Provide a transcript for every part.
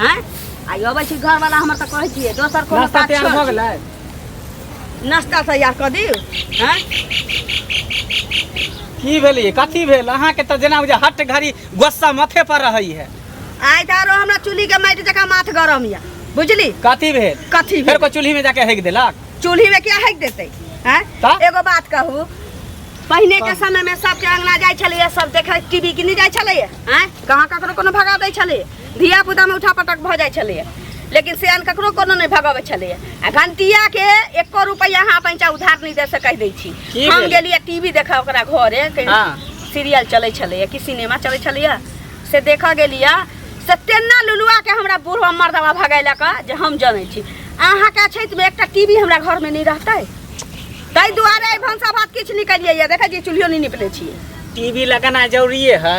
हैं आई अबै छी घर वाला हमर त कहै छियै दोसर कोनो नाश्ता बात तैयार भऽ छोड़ गेलै नाश्ता तैयार कऽ दियौ हैं की भेलै कथी भेल अहाँके तऽ जेना बुझा हट घड़ी गोस्सा माथे पर रहै है आइ तऽ आरो हमरा चूल्ही के माटि जकाँ माथ गरम यऽ बुझली कथी भेल कथी फेर भेल? कोई चूल्ही में जाके हेक देलक चूल्ही में क्या हैक देतै हैं तऽ? एगो बात कहू पहिने के समय में सबके अंगना जाइ छलैया सब देखे टीवी किने जाइ छलैया हैं कहाँ ककरो कोनो भगा दै छलैया धिया पुतामे उठा पटक भऽ जाइ छलैए लेकिन सेयान ककरो कोनो नहि भगबै छलैए आ घंटियाके एको रुपैआ अहाँ पैंचा उधार नहि दे से कहि दै छी की हम भेलै? गेलियै टीवी देखऽ ओकरा घरे कहीं हाँ। सीरियल चलै छलैए कि सिनेमा चलै छलैए से देखऽ गेलियै से तेना लुलुआके हमरा बूढ़वा मर्दवा भगैलक जे हम जनै छी अहाँके अछैतमे एकटा टीवी हमरा घरमे नहि रहतै ताहि दुआरे एहि भनसा भात किछु निकलिए देखै छियै चूल्हियो नहि निपले छियै टीवी लगाना जरूरिए है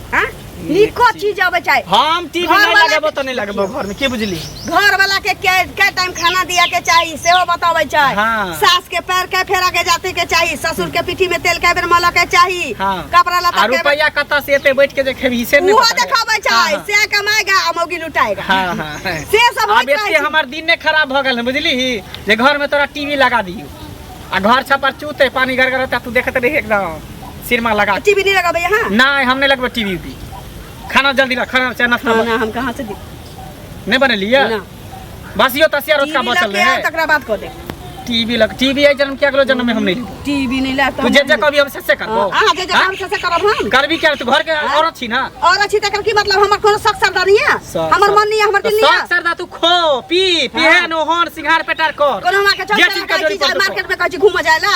हाँ? निको चीज आवे चाहे हम टीवी घर नहीं वाला लगाबो के- तो नहीं लगाबो घर में के बुझली घर वाला के के के टाइम खाना दिया के चाहिए सेहो बतावे चाहे हाँ। सास के पैर के फेरा के जाते के चाहिए ससुर के पीठी में तेल के बेर मल के चाहिए हाँ। कपड़ा लता आ के बेर- रुपया कत से एते बैठ के देखे हिस्से नहीं उहो पता देखावे है। चाहे हाँ, से कमाएगा आ मौगी लुटाएगा हाँ हाँ हाँ। से सब अब होइत रहै एते छै। हमार दिन ने खराब भ गेल है, बुझली जे घर में तोरा टीवी लगा दियो आ घर छपर चूते पानी गड़गड़ता तू देखत रही एकदम सिरमा लगा टीवी नहीं लगाबे यहाँ नहीं हम नहीं लगबे टीवी भी खाना जल्दी ला खाना चाहे नाश्ता खाना हम कहाँ से दी नहीं बने लिया ना बस यो तसिया रोज का बचल रहे है तकरा बात कर दे टीवी लग टीवी आई जन्म क्या करो जन्म में हम नहीं टीवी नहीं लाता तू जे जे कभी हम से करबो हां हाँ, जे जे हम से करब हम करबी क्या तू घर के हाँ। औरत छी ना औरत छी तकर की मतलब हमर कोनो शक सरदा नहीं है हमर मन नहीं है हमर दिल नहीं है शक सरदा तू खो पी पीहे हाँ। नो होन सिंगार पेटार कर कोनो मां के चल मार्केट में कह छी घूम जाएला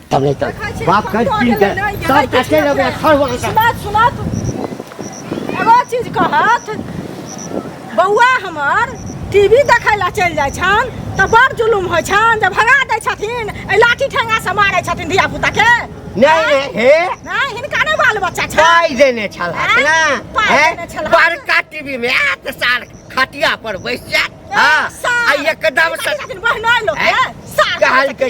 तब नहीं तब देखै छी बात हम कर तो पी अकेले के नहीं गेलै, सब किछु कटे नहि लगे भेल। खर वहां का सुनत सुनत एगो चीज कहत बौआ हमर टीवी देखै लए चलि जाइ छन तऽ बड़ जुलुम होइ छन जे भगा दै छथिन एहि लाठी ठेंगा से मारै छथिन धिया पुता के नहीं नहीं हे नहि हिनका नहि बाल बच्चा छन पाई देने छल हाँ? ना पाई हैं? देने छल, हाँ। बड़का टीवी में आत साल खटिया पर बैस जात हाँ आ एकदम से बहनोइ लोक हैं? सार कहल के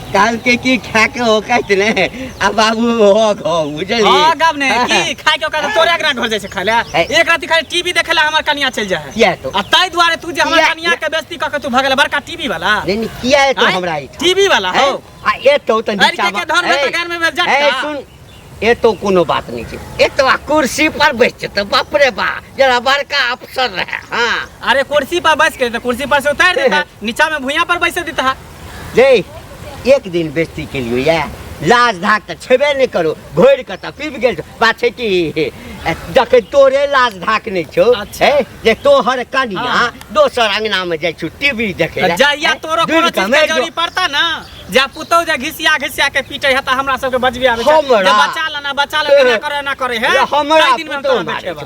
काल के की खा के हो कहत ने आ बाबू हो गो बुझली हां गब ने की खाए के ओकरा तोरे एकरा घर जाय से खाले है। एक राति खाली टीवी देखेला हमर कनिया चल जा है किया तो आ ताई दुआरे तू जे हमर किया- कनिया के बेइज्जती क के तू भगल बड़का टीवी वाला नहीं नहीं, किया है तो आँय? हमरा ई टीवी वाला हैं? हो आ ए तो तन अरे के के धन में ए, तगार में बैठ जा ए सुन ए तो कोनो बात नहीं छै ए तो आ कुर्सी पर बैठ छै तो बाप रे बा जरा बड़का अफसर रहे हां अरे कुर्सी पर बैस के तो कुर्सी पर से उतार देता नीचा में भुइया पर बैसे देता जे एक दिन बेस्ती केलियो या लाज धाक तऽ छेबे नहि करो घोर कऽ तऽ पीब गेल छौ। बात छै कि जखन तोरे लाज धाक नहि छौ अच्छा। हे, जे तोहर कनिया हाँ। दोसर अंगना में जाइ छौ टीवी देखे तऽ लए, जहिया हे, तोरो दूर कोनो कऽ चीज के मेर जो। जरूरी पड़ता ना जा पुतौ जे घिसिया घिसिया के पीटे है तऽ हमरा सबके बजबे आबे छै हमरा? जे बचा लेना बचा लेना एना करे एना करे है हमरा ताहि दिन में हम पुतहु तोरा मारै बैठेबा।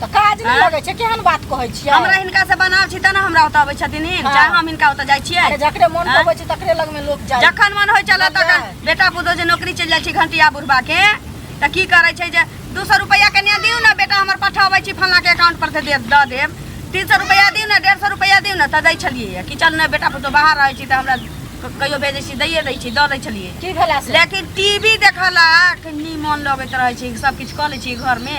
तऽ काज नहि लगै छै केहन बात कहै छियै हमरा हिनका से बनाव छी तब ने हमरा ओतऽ अबै छथिन हिन हँ। चाहे हम हिनका ओतऽ जाइ छियै अरे जकरे मन हँ। पबै छै तकरे लग में लोग जाय जखन मन होइ छलै तखन बुझलियै? बेटा पुतोह जे नौकरी चलि जाइ छै घंटिया बुढ़बा के तऽ की करै छै जे दू सौ रुपैआ कनिया दियौ ने बेटा हमर पठाबै छी फल्लाँ के अकाउंट पर से दे दऽ देब तीन सौ रुपैआ दियौ ने डेढ़ सौ रुपैआ दियौ ने तऽ दै छलियै कि चल ने बेटा पुतोह बाहर रहै छी तऽ हमरा क- कहियो भेजै छी दैए दै छी दऽ दै छलियै की भेला से लेकिन टीवी देखला के नीमन लगैत रहै छै सब किछु कऽ लै छी घर में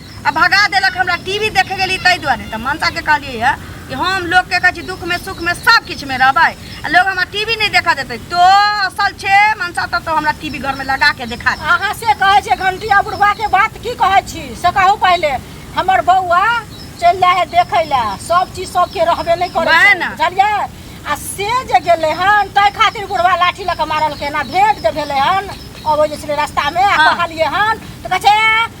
आ भगा देलक हमरा टीवी देखे गेली ताहि दुआरे तऽ मनसा के कहलियै है कि हम लोग के कहै छी दुख में सुख में सब किछु में रहबै आ लोग हमरा टीवी नहीं देखा देते तो असल छे मनसा तब तो हमरा टीवी घर में लगा के देखा दे अहाँ से कहै छै घंटिया बुढ़वा के बात की कहै छी से कहू पहिले हमर बौआ चलि जाइ है देखै लए सब चीज सबके रहबे नहि करै वएह छै ने। बुझलियै आ से जे गेलै हन ताहि खातिर बुढ़वा लाठी लऽ कऽ मारलकै हन आ भेंट जे भेलै हन अबै जे छलै रस्तामे आ हँ। कहलियै हन तऽ कहै छै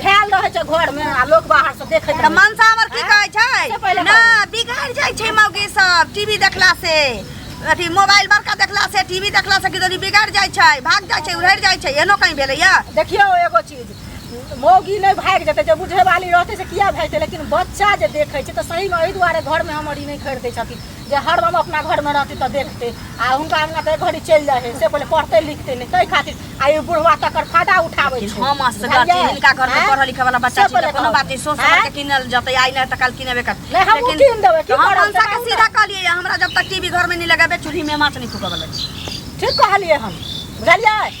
भेल रहै छै घर में आ लोग बाहर से देखैत तऽ रहै मनसा हमर की कहै छै पहिले ना बिगड़ जाइ छै मौगी सब टीवी देखला से अथी मोबाइल बड़का देखला से टीवी देखला से किदनी बिगड़ जाइ छै भाग जाइ छै उड़ि जाइ छै एनो कहीं भेलैया देखियो एगो चीज मौगी नहीं भाग जेतै जे बुढ़े वाली रहतै से किया भागतै लेकिन बच्चा जे देखै छै तऽ सही में एहि दुआरे घर में हमर ई नहीं खरीदै छथिन जे हरदम अपना घरमे रहतै तऽ देखतै आ हुनका अंगना तऽ एक घड़ी चलि जाइ हइ से पहिले पढ़तै लिखतै नहि ताहि खातिर आ ई बुढ़वा तकर फायदा उठाबै छै हम असगर छी बुझलियै? हिनका घर में आँय? पढ़ल लिखे वाला बच्चा से छी पहिले तऽ कोनो कहू। बात नहीं सोच समझ आँय? के किनल जतै आई ना त काल किनबे कर नहीं, हम उ कीन देबै, की हम करब, मनसा के देखाउ सीधा कहलिए हमरा जब तक टीवी घर में नहीं लगाबे चूल्ही में माछ नहीं फूकबल ठीक कहलियै हम बुझलियै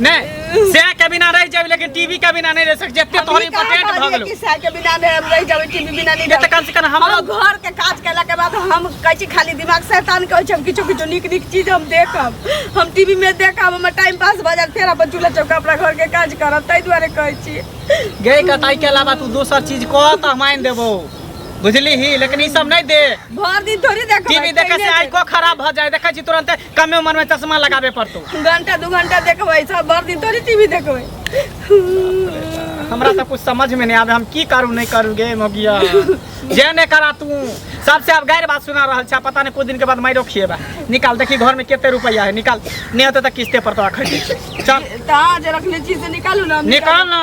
नहीं से के बिना रह जाबे लेकिन टीवी के बिना नहीं रह सक जते तोहर इम्पोर्टेंट भ गेलो कि सह के बिना नहीं हम रह जाबे टीवी बिना नहीं त कम से कम हम घर के काज केला के बाद हम कहै छी खाली दिमाग शैतान कहै छी हम किछु किछु नीक नीक चीज हम देखब हम टीवी में देखब हमर टाइम पास भ जात फेर अपन चूल्हा चौका अपना घर के काज करब तै दुआरे कहै छी गई कटाई के अलावा तू दोसर चीज कह त हम आइन देबो बुझली ही लेकिन ई सब नहीं दे भर दिन थोड़ी देख टीवी देखे से आई को खराब भ जाए देखे छी तुरंत कमे उम्र में चश्मा लगावे पड़तो घंटा दू घंटा देखबै सब भर दिन तोरी टीवी देखबै हमरा तो कुछ समझ में नहीं आवे हम की करू नहीं करू गे मोगिया जे ने करा तू सबसे अब गैर बात सुना रहल छा पता नहीं कुछ दिन के बाद मारो खिएबा निकाल देखी घर में कितने रुपया है निकाल नहीं होते तो किस्ते पर तो खरीद चल तहाँ जे रखले छी से निकालू ना हम निकाल ना